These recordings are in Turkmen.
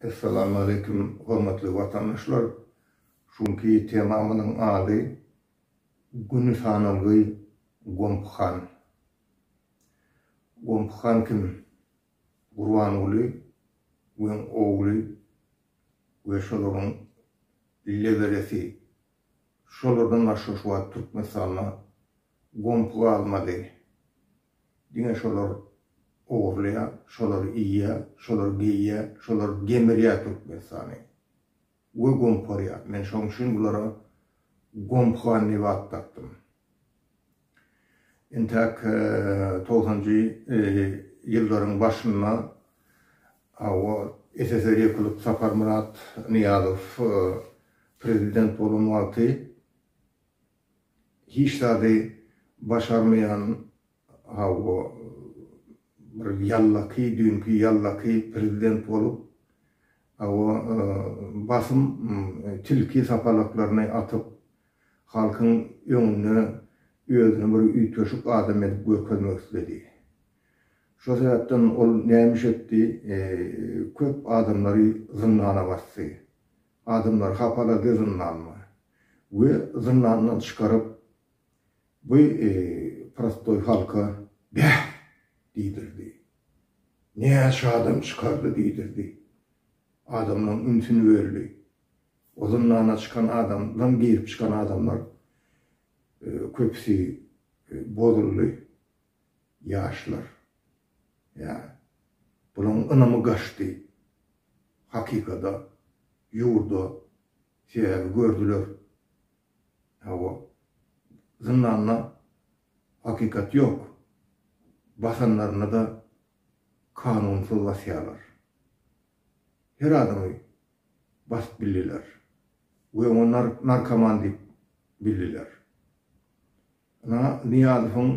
Essalamu Aleýkum hormatly watandaşlar! Şu günki temamynyň ady Güni sanawly Gomp han. Gomp han kim? Gurbanguly we ogly we şolaryň leweresi. Şolardan başga şu wagt Türkmenistanda Gomp galmady. Diňe şolar ogurlaýa, şolar iýýä, şolar geýýä, şolar gemirýä Türkmenistany. We gomparýa. Men şoň üçin bulara Gomphan diýip at dakdym. Entäk togsanjy ýyllaryň başynda hawa SSR ýykylyp Saparmyrat Nyýazow prezident bolan wagty Hiç zady başarmaýan Hawa bir ýallaky düýnki ýallaky prezident bolup Hawa basym tilki sapalaklaryny atyp halkyň öňünde özüni bir üýtgeşik adam edip görkezmek isledi. Şo sebäpden ol näme iş etdi köp adamlary zyndana basdy. Adamlary hapaladyr zyndanly we zyndandan çykaryp bu prostoý halka bäh diýdirdi. Näçe adam çykardy diýdirdi. Adamlaryň ünsüni böldi. O zyndana çykan adamdan girip çykan adamlar köpüsi bozuldy. Ýaşlar, Ýa, bulaň ynamy gaçdy. Hakykada, ýurda sebäbi gördüler. Hawa, zyndanda hakykat ýok. Basanlaryna-da kanunsyz basýarlar. Her adamy basyp bildiler we oňa narkoman diýip bildiler. Ynha, Nyýazowyň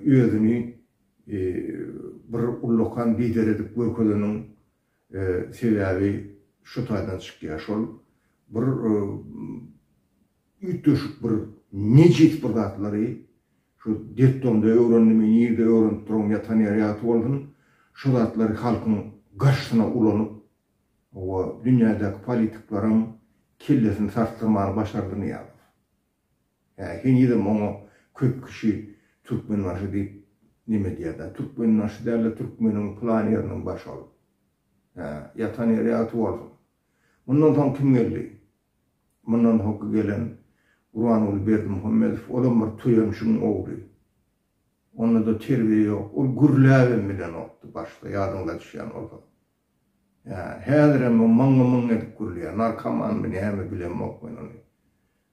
özüni bir ullakan lider edip görkezeniniň sebäbi şu taýdan çykýar, şol bir üýtgeşik bir nejis bir zatlary şu detdomda öwrendim, nirde öwrenip duragym ýatan ýeri ýat bolsun, şu zatlary halkyň garşysyna ulanyp, hawa, dünýädäki politiklaryň kellesini sarsdyrmany başardy Nyýazow. Hä henizem oňa köp kişi Türkmenbaşy diýip neme edýärda. Türkmenbaşy dälde türkmeniň plan ýeriniň başy ol. Hä ýatan ýeri ýagty bolsun. Mundan soň kim geldi? Mundan soňky gelen Gurbanguly Berdimuhamedow olam bir toýamşygyň ogly. Onda-da terbiýe ýok. Ol gürläbem bilenokdy başda ýadyňyza düşýän bolsa. Ýa, häzirem o myňňy-myňňy edip gürleýär. Narkomanmy, näme, bilemok men ony.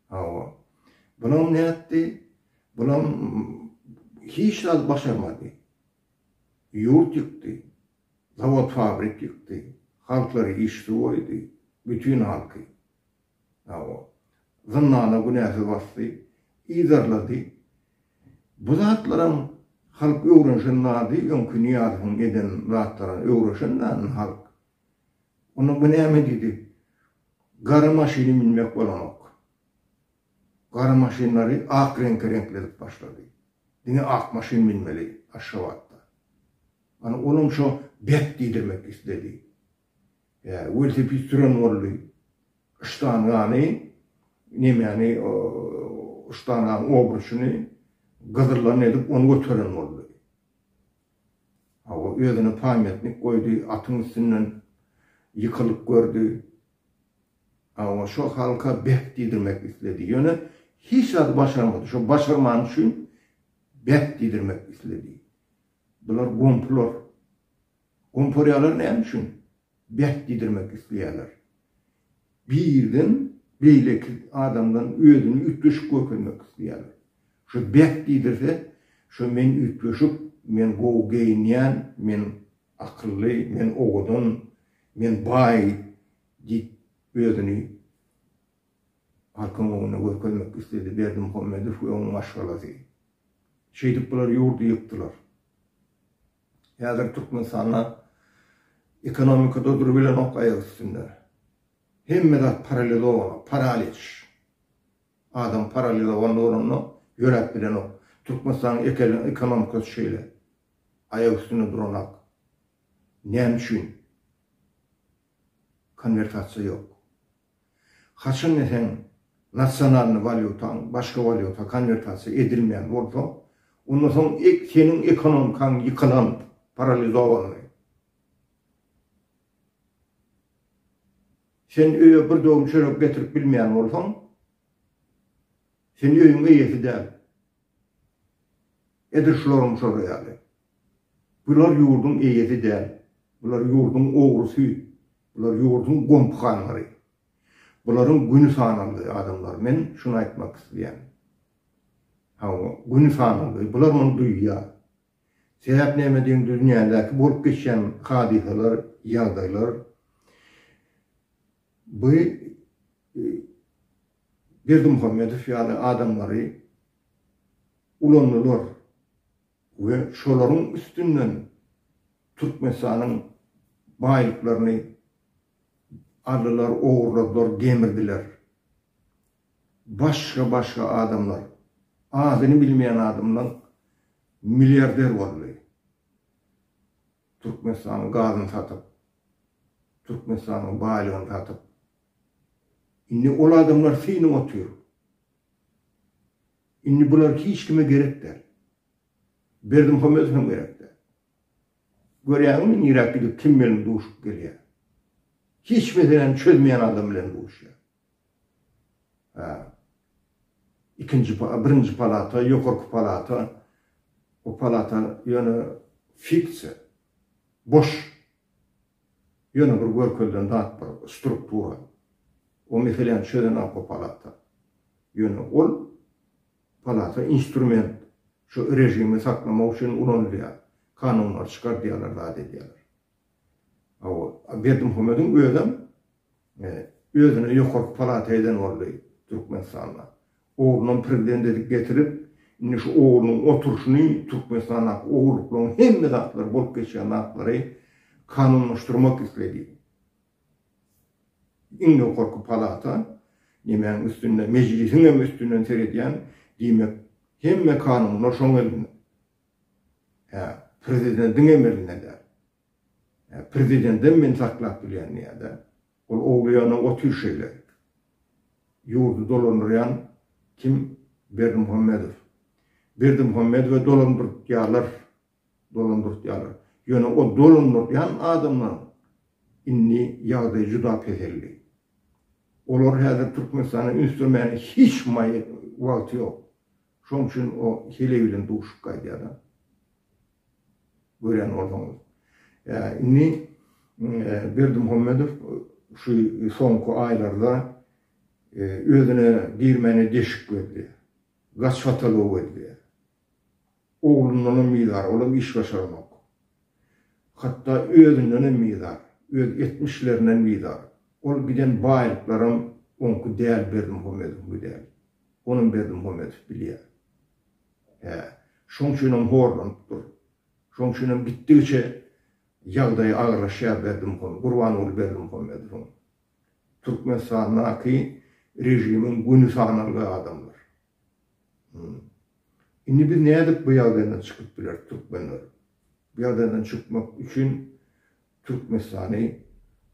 Hawa. Bulam nätdi? Bulam hiç zat başarmady. Ýurt ýykdy. Zawod-fabrik ýykdy. Halklary işsiz goýdy. Bütin halky. Hawa. Zyndana günäsiz basdy, yzarlady. Bu zatlaram halk öwrenişen zady, öňki Nyýazowyň eden zatlaryny öwreşen zady halk. Onda bu näme diýdi? Gara maşyny münmek bolanok. Gara maşynlary ak reňke reňkledip başlady. Diňe ak maşyn münmeli Aşgabatda. Ana olam şo bek diýdirmek isledi. Ýa welosiped süren boldy. Ştangany, nemäni, ştanganyň obruşyny gyzyldan edip, ony göteren boldy. Hawa, özüne pamýatnik goýdy, atyň üstünden ýykylyp gördi. Hawa, şo halka beh diýdirmek isledi. Ýöne hiç zady başarmady. Şo başarmany üçin beh diýdirmek isledi. Bular gompular. Gomparýalar näme üçin bäh diýdirmek isleýärler? Birden beýleki adamdan özüni üýtgeşik görkezmek isleýärler. Şu bäh diýdirse, şu men üýtgeşik, men gowy geýinýän, men akylly, men owadan, men baý diýip özüni halkyň öňünde görkezmek isledi Berdimuhamedow we onuň maşgalasy. Şeýdip bular ýurdy ýykdylar. Häzir Türkmenistanda ekonomikada durubilenok aýak üstünde. Hemme zat paralizowana, paraliç. Adam paralizowanda bolanda ýöräp bilenok. Türkmenistanyň ekeli ekonomikasy şeýle. Aýak üstünde duranok. Näme üçin? Konwertasiýa ýok. Haçan da seň nasionalnyý walýutaň başga walýuta konwertasiýa edilmeýän bolsa, onda soň seniň ekonomikaň ýykylan, paralizowanyý. Sen öýe bir döwüm çörek getirip bilmeýän bolsaň, sen öýüň eýesi däl. Edil şularyň şory ýaly. Bular ýurduň eýesi däl. Bular ýurduň ogrusy. Bular ýurduň gompyhanlary. Bularyň güni sanaldy, adamlar. Men şuny aýtmak isleýän. Hawa, güni sanaldy. Bular muny duýýar. Sebäp näme diýiň, dünýädäki bolup geçýän hadysalar, ýagdaýlar bu Berdimuhamedow ýaly adamlary ulandylar. we şolaryň üstünden Türkmenistanyň baýlyklaryny aldylar, ogurladylar, gemirdiler. Başga-başga adamlar, adyny bilmeýän adamlar milliarder boldy. Türkmenistanyň gazyny satyp, Türkmenistanyň baýlygyny satyp. Indi ol adamlar synap otyr. Indi bular hiç kime gerek däl. Berdimuhamedow hem gerek däl. Görýäňmi niräk gidip kim bilen duşup gelýär. Hiç meseläni çözmeýän adam bilen duşýar. Ha. Ikinji birinji palata, ýokarky palata. O palata ýöne fiksiýa. Boş. Ýöne bir görkezilen zat bar, struktura. O meseläni çözen alko palata. Ýöne ol palata instrument, şu režimi saklamak üçin ulanylýar. Kanunlary çykardýarlar, zat edýärler. A o Berdimuhamediň özem özüne ýokarky palata eden boldy Türkmenistanda. Oglunam prezident edip getirip, indi şu oglunyň oturyşyny Türkmenistandaky ogurlyklaryň hemme zatlary bolup geçýän zatlary kanunlaşdyrmak isledi. Iň ýokarky palata nemäň üstünde mejlisiň hem üstünden seredýän diýmek hemme kanunlar şoň elinde. Hä, prezidentiň hem elinde däl. Prezidendem meni saklap bilýän diýýär-dä. Ol owlaýanam otyr şeýle. Ýurdy dolandyrýan kim? Berdimuhamedow. Berdimuhamedowy dolandyrtýarlar. Dolandyrtýarlar. Ýöne o dolandyrýan adamlaryň indi ýagdaýy juda peseldi. Olar häzir Türkmenistana üns bermäne hiç maýa wagty ýok. Şoň üçin o heleý bilen duşup gaýdýar-da. Görýän bolsaňyz. Ýa, indi Berdimuhamedow şu soňky aýlarda özüne girmäne deşik gözleýär. Gaç patalogy gözleýär. Oglundanam bizar, olam iş başaranok. Hatda özündenem bizar, öz etmişlerinden bizar. Ol giden baýlyklaram oňky däl Berdimuhamedowyňky däl. Onam Berdimuhamedow bilýär. Hä, şoň üçinem horlanyp dur. Şoň üçinem gitdigiçe ýagdaýy agyrlaşýar Berdimuham, Gurbanguly Berdimuhamedowyň. Türkmenistandaky režimiň göni sanalgy adamlar. Hum. Indi biz nädip bu ýagdaýdan çykyp bileris türkmenler? Bu ýagdaýdan çykmak üçin Türkmenistany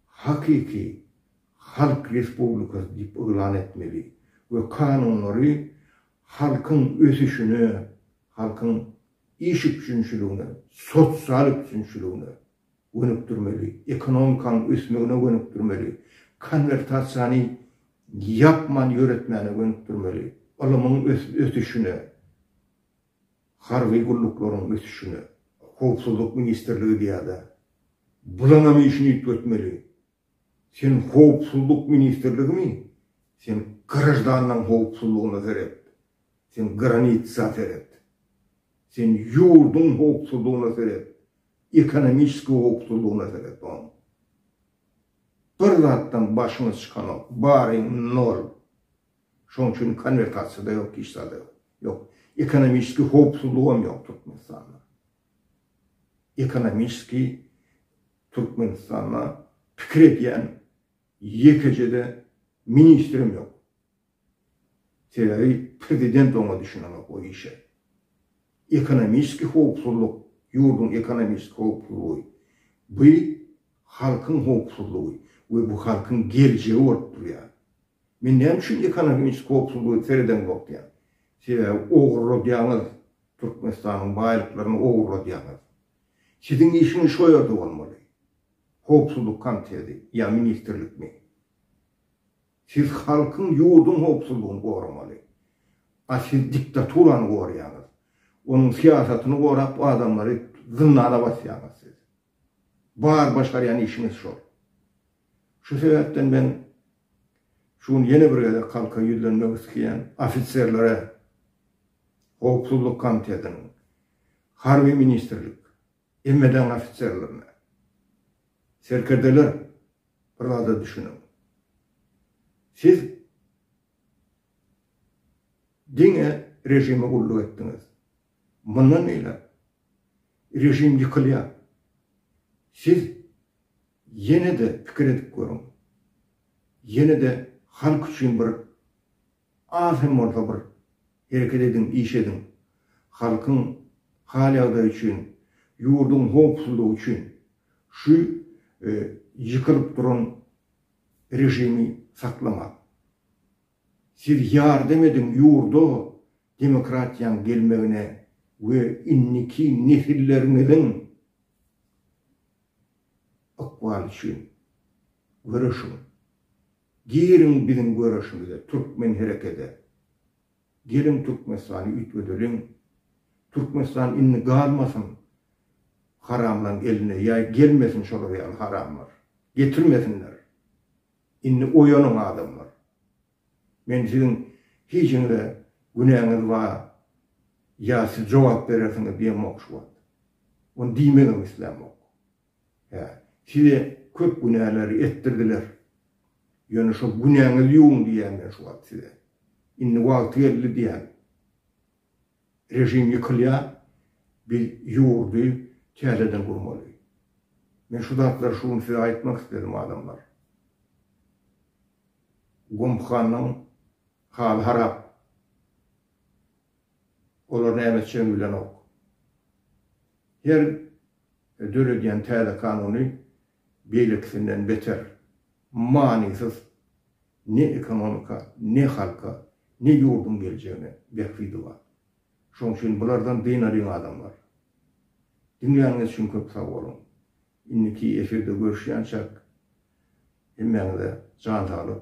hakyky halk respublikasy diýip yglan etmeli we kanunlary halkyň ösüşine, halkyň iş üpjünçiligine, sosial üpjünçiligine gönükdirmeli, ekonomikanyň ösmegine gönükdirmeli, konwertasiýany ýapman ýöretmäne gönükdirmeli, ylymyň ösüşine, Harby gulluklaryň ösüşine Howpsuzlyk ministrligi diýýärler. Bulaňam işini üýtgetmeli. Sen Howpsuzlyk ministrligimi? Sen graždanlaň howpsuzlygyna seret. Sen granitsa seret. Sen ýurduň howpsuzlygyna seret. Ekonomiski howpsuzlygyna seret oň. Bir zatdan başyňyz çykanok. Baryň nol. Şoň üçin konwertasiýada ýok hiç zada ýok. Ýok. Ekonomiski howpsuzlygam ýok Türkmenistanda. Ekonomiski Türkmenistanda pikir edýän ýekeje-de ministrem ýok. Sebäbi prezident oňa düşünenok o işe. Ekonomiski howpsuzlyk, ýurduň ekonomiski howpsuzlygy bu halkyň howpsuzlygy we bu halkyň geljegi bolup durýar. Men näme üçin ekonomiki howpsuzlygy seredeňzok diýýän. Sebäbi ogurladýaňyz, Türkmenistanyň baýlyklaryny ogurladýaňyz. Siziň işiňiz şo ýerde bolmaly. Howpsuzlyk komiteti ýa ministrlikmi? Siz halkyň, ýurduň howpsuzlygyny goramaly. A siz diktaturany goraýaňyz. Onuň syýasatyny gorap adamlary zyndana basýaňyz siz. Bar başarýan işiňiz şol. Şu sebäpden men şu gün ýene bir gezek halka ýüzlenmek iskeýän ofiserlere Howpsuzlyk komitetiniň, Harby ministrlik, MHD-niň ofiserlerine, Serkerdeler bir zada düşüniň. Siz diňe režime gulluk etdiňiz. Mundan beýläk režim ýykylýar. Siz ýene-de pikir edip görüň. Ýene-de halk üçin bir az hem bolsa bir hereket ediň, iş ediň. Halkyň hal-ýagdaýy üçin, ýurduň howpsuzlygy üçin şu ýykylyp duran režimi saklamaň. Siz ýardam ediň, ýurda demokratiýaň gelmegine we indiki nesilleriňiziň ykbaly üçin göreşiň. Giriň biziň göreşimize, Türkmen herekede. Geliň Türkmenistany üýtgedeliň. Türkmenistan indi galmasyn haramlaň eline ýa gelmesin şolar ýaly haramlar. Getirmesinler. Indi oýanyň adamlar. Men siziň hijiňize günäňiz bar ýa siz jogap berersiňiz diýemok şu wagt. Ony diýmegem islämok. Hä, size köp günäleri etdirdiler. Ýöne şo günäňizi ýuwuň diýýän men şu wagt size. Indi wagty geldi diýýän. Režim ýykylýar, biz ýurdy täzeden gurmaly. Men şu zatlary şu gün size aýtmak isledim, adamlar. Gumhanyň haly harap. Olar näme etjegini bilenok. Her döredýän täze kanuny beýlekisinden beter manysyz, ne ekonomika, ne halka, ne ýurduň geljegine bähbidi bar. Şoň üçin bulardan dynalyň adamlar. Diňläniňiz üçin köp sag boluň. Indiki efirde görüşýänçäk hemmäňize jan saglyk.